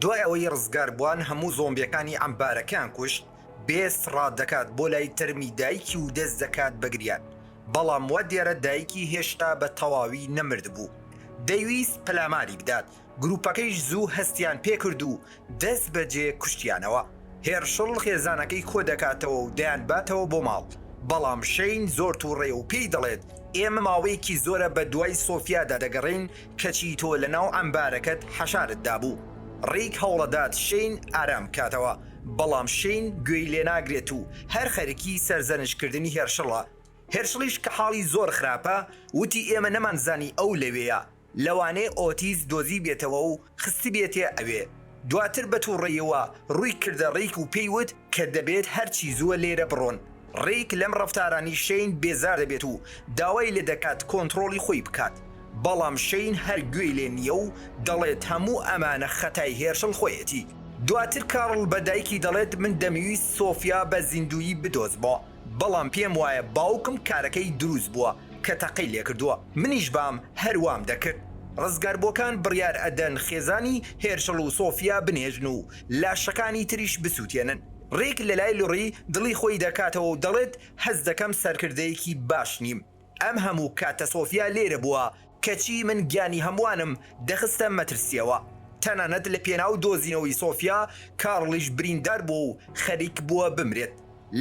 دوای ئەوەی ڕزگاربوان هەموو زۆمبیەکانی عەمبارەکەیان کوشت، بێست ڕادەکات بۆ لای تەرمی دایکی و دەست دەکات بە گریان، بەڵام وا دیارە دایکی هێشتا بە تەواوی نەمردبوو. دەیویست پەلاماری بدات، گروپەکەیش زوو هەستیان پێکرد و دەست بەجێ کوشتیانەوە. هێرشڵ خێزانەکەی کۆدەکاتەوە و دەیانباتەوە بۆ ماڵ، بەڵام شەین زۆر توڕەیە و پێی دەڵێت ئێمە ماوەیەکی زۆرە بەدوای سۆفیادا دەگەڕێین کەچی تۆ لە ناو عەمبارەکەت حەشارت دابوو. ڕیک هەوڵەدات شەین ئارام بکاتەوە، بەڵام شەین گوێی لێناگرێت و هەر خەرکی سەرزەنشتکردنی هێرشڵە. هێرشڵیش کە حاڵی زۆر خراپە، وتی ئێمە نەمانزانی ئەو لەوێیە، لەوانەیە ئۆتیس دۆزیبێتەوە و خستبێتێ ئەوێ. دواتر بە توڕەیەوە ڕووی کردە ڕیک و پێی وت کە دەبێت هەرچی زووە لێرە بڕۆن. ڕیک لەم ڕەفتارانەی شەین بێزار دەبێت و داوای لێ دەکات کۆنتڕۆڵی خۆی بکات، بەڵام شەین هەر گوێی لێ نییە و دەڵێت هەموو ئەمانە خەتای هێرشڵ خۆیەتی. دواتر کارڵ بە دایکی دەڵێت من دەمویست سۆفیا بە زیندوویی بدۆزمەوە. بەڵام پێم وایە باوکم کارەکەی دروست بووە کە تەقەی لێکردووە منیش بام هەر وام دەکرد ڕزگاربووەکان بڕیار ئەدەن خێزانی هێرشڵ و سۆفیا بنێژن و لاشەکانی تریش بسوتێنن ڕیک لەلای لوڕی دڵی خۆی دەکاتەوە و دەڵێت هەست دەکەم سەرکردەیەکی باش نیم ئەم هەموو کاتە سۆفیا لێرە بووە کەچی من گیانی هەمووانم دەخستە مەترسییەوە، تەنانەت لە پێناو دۆزینەوەی سۆفیا، کارڵیش بریندار بووە و خەریک بووە بمرێت.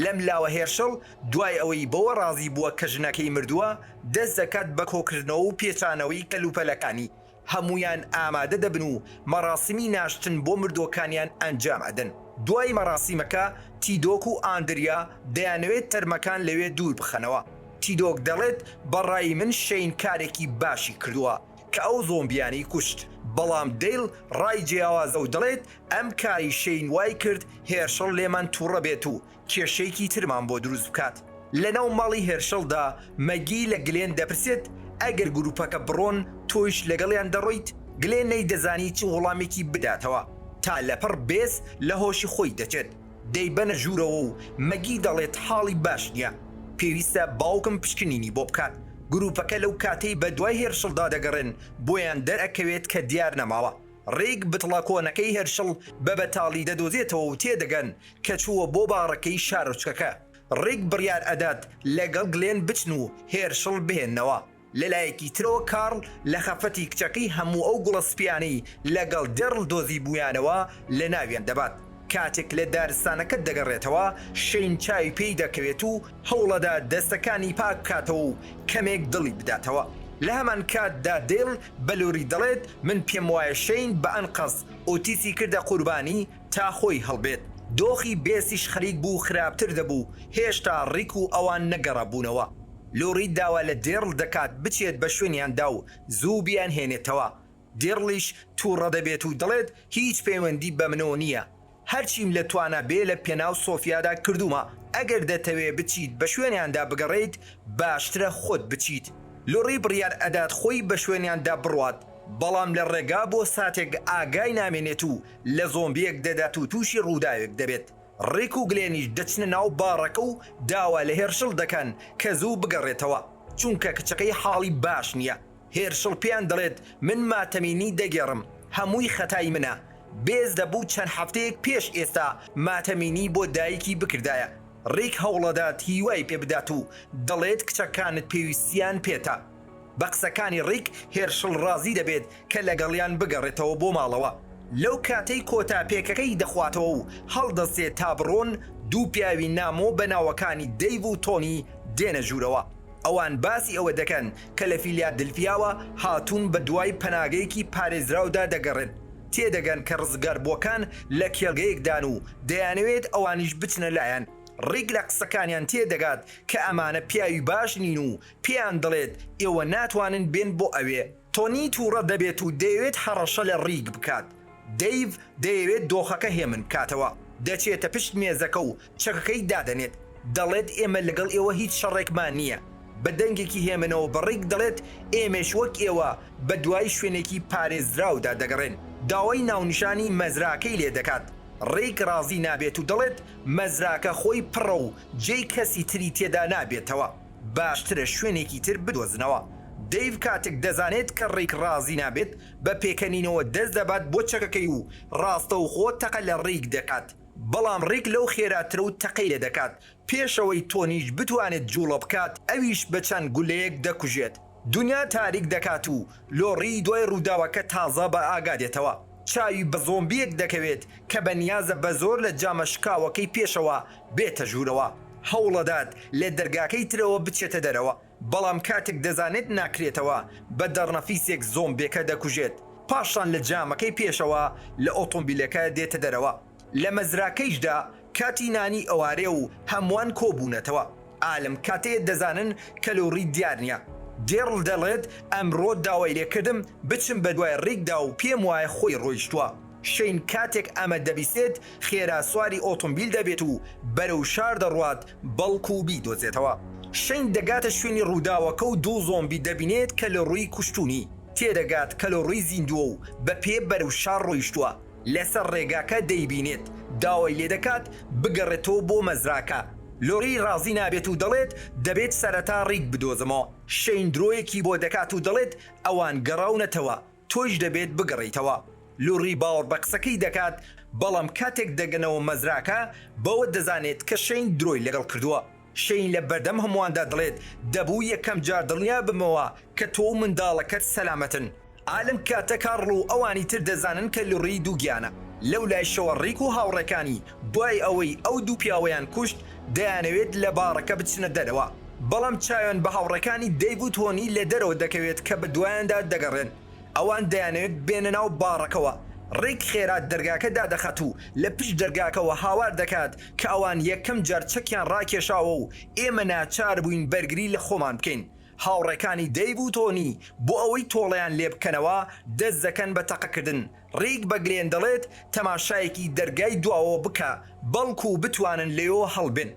لەم لاوە هێرشەڵ دوای ئەوەی بەوە ڕازی بووە کە ژنەکەی مردووە، دەست دەکات بە کۆکردنەوە و پێچانەوەی کەلوپەلەکانی، هەموویان ئامادە دەبن و مەراسیمی ناشتن بۆ مردووەکانیان ئەنجام ئەدەن. دوای مەراسیمەکە، تیدۆک و ئاندریا دەیانەوێت تەرمەکان لەوێ دوور بخەنەوە. تیدۆک دەڵێت، بە ڕای من شەین کارێکی باشی کردووە کە ئەو زۆمبیانەی کوشت، بەڵام دەیل ڕای جیاوازە و دەڵێت، ئەم کارەی شەین وای کرد هێرشڵ لێمان تووڕە بێت و کێشەیەکی ترمان بۆ دروست بکات. لەناو ماڵی هێرشڵدا، مەگی لە گلێن دەپرسێت، ئەگەر گرووپەکە بڕۆن، تۆیش لەگەڵیان دەڕۆیت؟ گلێن نەیدەزانی چ وڵامێکی بداتەوە، تا لەپڕ بێز لە هۆشی خۆی دەچێت. دەیبەنە ژوورەوە و مەگی دەڵێت حاڵی باش نییە، پێویستە باوکم پشکنینی بۆ بکات. گرووپەکە لەو کاتەی بەدوای هێرشڵدا دەگەڕێن، بۆیان دەرئەکەوێت کە دیار نەماوە. ڕێک بتڵە کۆنەکەی هێرشڵ بە بەتاڵی دەدۆزێتەوە و تێدەگەن کە چووە بۆ باڕەکەی شارۆچکەکە. ڕێک بڕیار ئەدات لەگەڵ گلێن بچن و هێرشڵ بهێننەوە. لە لایەکی ترەوە کارڵ لە خەفەتی کچەکەی هەموو ئەو گوڵە سپییانەی لەگەڵ دێڕل دۆزیبوویانەوە لە ناویان دەبات. کاتێک لە دارستانەکە دەگەڕێتەوە، شەین چاوی پێی دەکەوێت و هەوڵەدا دەستەکانی پاک بکاتەوە و کەمێک دڵی بداتەوە. لە هەمان کاتدا دێل بە لۆری دەڵێت، من پێم وایە شەین بە ئەنقەست ئۆتیسی کردە قوربانی، تا خۆی هەڵبێت دۆخی بێسیش خەریک بوو خراپتر دەبوو هێشتا ڕیک و ئەوان نەگەڕابوونەوە لۆری داوا لە دێڕڵ دەکات بچێت بە شوێنیاندا و زوو بیانهێنێتەوە دێڕڵیش توڕە دەبێت و دەڵێت هیچ پەیوەندی بە منۆ نییە هەرچیم لە توانا بێ لە پێناو سۆفیادا کردوومە ئەگەر دەتەوێ بچیت بە شوێنیاندا بگەڕێیت باشترە خۆت بچیت لۆری بڕیار ئەدات خۆی بە شوێنیاندا بڕوات بەڵام لە ڕێگا بۆ ساتێک ئاگای نامێنێت و لە زۆمبیەک دەدات و توشی ڕووداوێک دەبێت، ڕیک و گلێنیش دەچنە ناو باڕەکە و داوا لە هێرشڵ دەکەن کە زوو بگەڕێتەوە چونکە کچەکەی حاڵی باش نیە، هێرشڵ پێیان دەڵێت من ماتەمینی دەگێڕم هەمووی خەتای منە، بێز دەبوو چەند هەفتەیەک پێش ئێستا ماتەمینی بۆ دایکی بکردایە، ڕیک هەوڵەدات هیوای پێبدات و دەڵێت کچەکانت پێویستیان پێتە. بە قسەکانی ڕیک هێرشڵ ڕازی دەبێت کە لەگەڵیان بگەڕێتەوە بۆ ماڵەوە، لەو کاتەی کۆتا پێکەکەی دەخواتەوە و هەڵدەستێت تا بڕۆن، دوو پیاوی نامۆ بە ناوەکانی دەیڤ و تۆنی دێنە ژوورەوە، ئەوان باسی ئەوە دەکەن کە لە فیلیادلفیاوە هاتوون بە دوای پەناگەیەکی پارێزراودا دەگەڕێن، تێدەگەن کە ڕزگاربووەکان لە کێڵگەیەکدان و دەیانەوێت ئەوانیش بچنە لایان، ڕیک لە قسەکانیان تێدەگات کە ئەمانە پیاوی باش نین و پێیان دەڵێت ئێوە ناتوانن بێن بۆ ئەوێ. تۆنی تووڕە دەبێت و دەیەوێت هەڕەشە لە ڕیک بکات. دەیڤ دەیەوێت دۆخەکە هێمن بکاتەوە. دەچێتە پشت مێزەکە و چەکەکەی دادەنێت. دەڵێت ئێمە لەگەڵ ئێوە هیچ شەڕێکمان نییە. بە دەنگێکی هێمنەوە بە ڕیک دەڵێت ئێمەش وەک ئێوە بە دوای شوێنێکی پارێزراودا دەگەڕێن. داوای ناونیشانی مەزراکەی لێ دەکات. ڕیک ڕازی نابێت و دەڵێت مەزراکە خۆی پڕە و جێی کەسی تری تێدا نابێتەوە. باشترە شوێنێکی تر بدۆزنەوە. دەیڤ کاتێک دەزانێت کە ڕیک ڕازی نابێت، بە پێکەنینەوە دەست دەبات بۆ چەکەکەی و ڕاستەوخۆ تەقە لە ڕیک دەکات، بەڵام ڕیک لەو خێراترە و تەقەی لێ دەکات، پێش ئەوەی تۆنیش بتوانێت جووڵە بکات، ئەویش بە چەند گولەیەک دەکوژێت. دونیا تاریک دەکات و لۆڕی دوای ڕووداوەکە تازە بە ئاگا دێتەوە. چاوی بە زۆمبییەک دەکەوێت کە بە نیازە بە زۆر لە جامە شکاوەکەی پێشەوە بێتە ژوورەوە. هەوڵەدات لە دەرگاکەی ترەوە بچێتە دەرەوە، بەڵام کاتێک دەزانێت ناکرێتەوە، بە دەڕنەفیسێک زۆمبیەکە دەکوژێت. پاشان لە جامەکەی پێشەوە لە ئۆتۆمبیلەکە دێتە دەرەوە. لە مەزراکەیشدا کاتی نانی ئەوارێ و هەمووان کۆ بوونەتەوە. ئا لەم کاتەیە دەزانن کەلوڕی دیار نییە. دێڕڵ دەڵێت، ئەمڕۆ داوای لێ کردم بچم بە دوای ڕیکدا و پێم وایە خۆی ڕۆیشتووە. شەین کاتێک ئەمە دەبیسێت خێرا سواری ئۆتۆمبیل دەبێت و بەرەو شار دەڕوات بەڵکوو بیدۆزێتەوە. شەین دەگاتە شوێنی ڕووداوەکە و دوو زۆمبی دەبینێت کەلوڕی کوشتوونی. تێدەگات کەلوڕی زیندووە و بە پێ بەرەو شار ڕۆیشتووە. لەسەر ڕێگاکە دەیبینێت، داوای لێدەکات بگەڕێتەوە بۆ مەزراکە. لۆری ڕازی نابێت و دەڵێت، دەبێت سەرەتا ڕیک بدۆزمەوە. شەین درۆیەکی بۆ دەکات و دەڵێت، ئەوان گەڕاونەتەوە، تۆیش دەبێت بگەڕێیتەوە. لۆری باوەڕ بە قسەکەی دەکات، بەڵام کاتێک دەگەنەوە مەزراکە، بەوە دەزانێت کە شەین درۆی لەگەڵ کردووە. شەین لە بەردەم هەموواندا دەڵێت، دەبوو یەکەم جار دڵنیا بمەوە کە تۆ و منداڵەکەت سەلامەتن. ئا لەم کاتە کارڵ و ئەوانی تر دەزانن کە لوڕی دووگیانە. لەو لایشەوە ڕیک و هاوڕێکانی دوای ئەوەی ئەو دوو پیاوەیان کوشت، دەیانەوێت لە باڕەکە بچنە دەرەوە. بەڵام چایۆن بە هاوڕێکانی دەیڤ و تۆنی لە دەرەوە دەکەوێت کە بەدوایاندا دەگەڕێن. ئەوان دەیانەوێت بێنە ناو باڕەکەوە. ڕیک خێرا دەرگاکە دادەخات و لە پشت دەرگاکەوە هاوار دەکات، کە ئەوان یەکەم جار چەکیان ڕاکێشاوە و ئێمە ناچار بووین بەرگری لە خۆمان بکەین. هاوڕێکانی دەیڤ و تۆنی بۆ ئەوەی تۆڵەیان لێ بکەنەوە دەست دەکەن بە تەقەکردن. ڕیک بە گلێن دەڵێت تەماشایەکی دەرگای دواوە بکە بەڵکوو بتوانن لێیەوە هەڵبێن.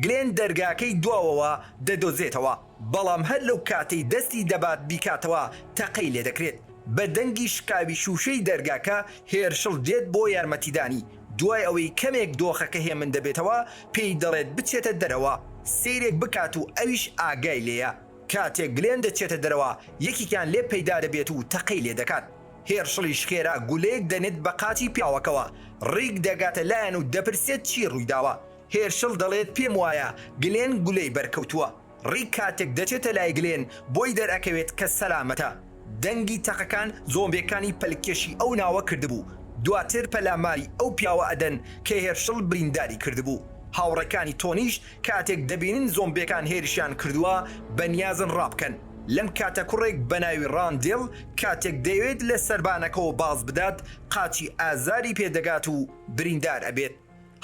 گلێن دەرگاکەی دواوەوە دەدۆزێتەوە. بەڵام هەر لەو کاتەی دەستی دەبات بیکاتەوە تەقەی لێدەکرێت، بە دەنگی شکاوی شووشەی دەرگاکە هێرشڵ دێت بۆ یارمەتیدانی، دوای ئەوەی کەمێک دۆخەکە هێمن دەبێتەوە پێی دەڵێت بچێتە دەرەوە سەیرێک بکات و ئەویش ئاگای لێیە، کاتێک گلێن دەچێتە دەرەوە یەکێکیان لێ پەیدا دەبێت و تەقەی لێدەکات، هێرشڵیش خێرا گولەیەک دەنێت بە قاچی پیاوەکەوە، ڕیک دەگاتە لایان و دەپرسێت چی ڕوویداوە، هێرشل دەڵێت پێم وایە گلێن گولەی بەرکەوتووە، ڕیک کاتێک دەچێتە لای گلێن بۆی دەرئەکەوێت کە سەلامەتە، دەنگی تەقەکان زۆمبێکانی پەلکێشی ئەو ناوە کردبوو، دواتر پەلاماری ئەو پیاوە ئەدەن کە هێرشل برینداری کردبوو، هاوڕێکانی تۆنیش کاتێک دەبینن زۆمبێکان هێرشیان کردووە بەنیازن ڕابکەن، لەم کاتە کوڕێک بەناوی ڕاندێڵ کاتێک دەیەوێت لە سەربانەکەوە بازبدات قاچی ئازاری پێدەگات و بریندار ئەبێت.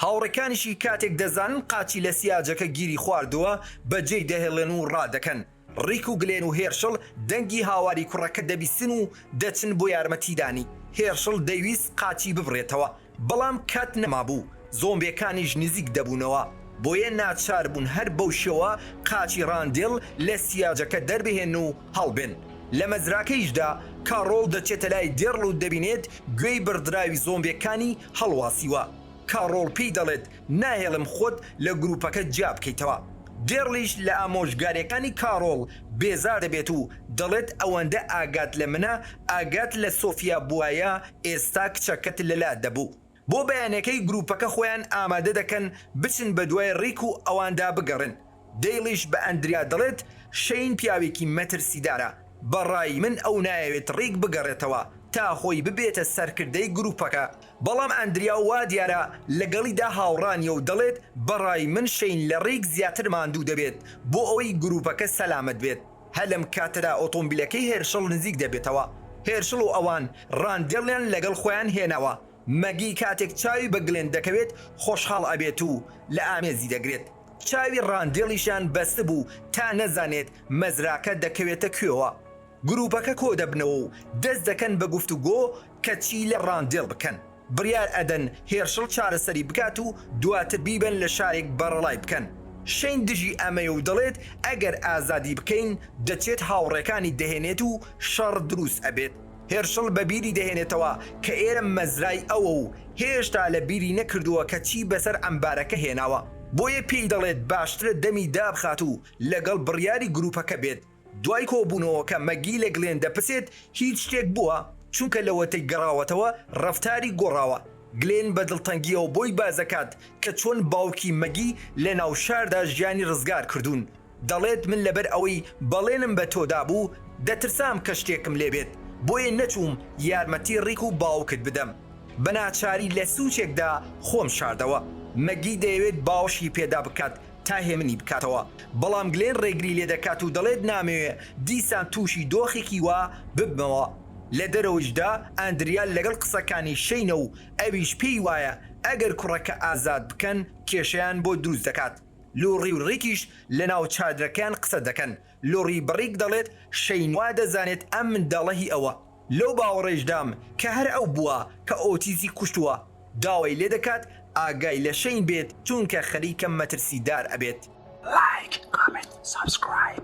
هاوڕێکانیشی کاتێک دەزانن قاچی لە سیاجەکە گیری خواردووە، بەجێی دەهێڵێن و ڕادەکەن. ڕیک و گلێن و هێرشڵ دەنگی هاواری کوڕەکە دەبیستن و دەچن بۆ یارمەتیدانی. هێرشڵ دەیویست قاچی ببڕێتەوە، بەڵام کات نەمابوو، زۆمبیەکانیش نزیک دەبوونەوە، بۆیە ناچاربوون هەر بەو شێوە قاچی ڕاندێڵ لە سیاجەکە دەربهێنن و هەڵبێن. لە مەزراکەیشدا کاڕۆڵ دەچێتە لای دێڕل و دەبینێت گوێی بڕدراوی زۆمبێکانی هەڵواسیوە. کاڕۆڵ پێی دەڵێت ناهێڵم خۆت لە گروپەکە جیابکەیتەوە. دێڕلیش لە ئامۆژگاریەکانی کاڕۆڵ بێزار دەبێت و دەڵێت ئەوەندە ئاگات لە منە، ئاگات لە سۆفیا بوایە ئێستا کچەکەت لەلا دەبوو. بۆ بەیانەکەی گروپەکە خۆیان ئامادە دەکەن بچن بەدوای ڕیک و ئەواندا بگەڕێن، دەیڵیش بە ئەندریا دەڵێت شەین پیاوێکی مەترسیدارە، بەڕای من ئەو نایەوێت ڕیک بگەڕێتەوە تا خۆی ببێتە سەرکردەی گروپەکە، بەڵام ئەندریا وا دیارە لەگەڵیدا هاوڕا نیە و دەڵێت بەڕای من شەین لە ڕیک زیاتر ماندوو دەبێت بۆ ئەوەی گروپەکە سەلامەت بێت. هەر لەم کاتەدا ئۆتۆمبیلەکەی هێرشڵ نزیک دەبێتەوە، هێرشڵ و ئەوان ڕاندێڵیان لەگەڵ خۆیان هێناوە، مەگی کاتێک چاوی بە گلێن دەکەوێت خۆشحاڵ ئەبێت و لە ئامێزی دەگرێت، چاوی ڕاندێڵیشیان بەستبوو تا نەزانێت مەزراکە دەکەوێتە کوێوە، گروپەکە کۆدەبنەوە و دەست دەکەن بە گفتوگۆ کە چی لە ڕاندێڵ بکەن. بڕیار ئەدەن هێرشڵ چارەسەری بکات و دواتر بیبەن لە شارێک بەڕەڵای بکەن. شەین دژی ئەمەیە و دەڵێت ئەگەر ئازادی بکەین دەچێت هاوڕێکانی دەهێنێت و شەڕ دروست ئەبێت. هێرشڵ بە بیری دەهێنێتەوە کە ئێرە مەزرای ئەوە و هێشتا لە بیری نەکردووە کە چی بەسەر عەمبارەکە هێناوە. بۆیە پێی دەڵێت باشترە دەمی دابخات و لەگەڵ بڕیاری گروپەکە بێت. دوای کۆبوونەوەکە مەگی لە گلێن دەپرسێت هیچ شتێک بووە؟ چونکە لەوەتەی گەڕاوەتەوە ڕەفتاری گۆڕاوە. گلێن بە دڵتەنگییەوە بۆی باسدەکات کە چۆن باوکی مەگی لەناو شاردا ژیانی ڕزگار کردوون. دەڵێت من لەبەر ئەوەی بەڵێنم بە تۆ دابوو دەترسام کە شتێکم لێ بێت بۆیە نەچووم یارمەتی ڕیک و باوکت بدەم. بەناچاری لە سوچێکدا خۆم شاردەوە. مەگی دەیەوێت باوەشی پێدا بکات تا هێمنی بکاتەوە، بەڵام گلێن ڕێگری لێدەکات و دەڵێت نامەوێ دیسان تووشی دۆخێکی وا ببمەوە. لە دەرەوەیشدا ئاندریا لەگەڵ قسەکانی شەینە و ئەویش پێی وایە ئەگەر کوڕەکە ئازاد بکەن کێشەیان بۆ دروست دەکات. لوڕی و ڕیکیش لەناو چادرەکەیان قسە دەکەن لۆڕی بڕیک دەڵێت شەین وا دەزانێت ئەم منداڵە هی ئەوە، لەو باوەڕەیشدام کە هەر ئەو بووە کە ئۆتیزی کوشتووە، داوای لێ دەکات ئاگای لە شەین بێت چونکە خەریکە مەترسیدار ئەبێت. لایک کۆمێنت سەبسکرایب.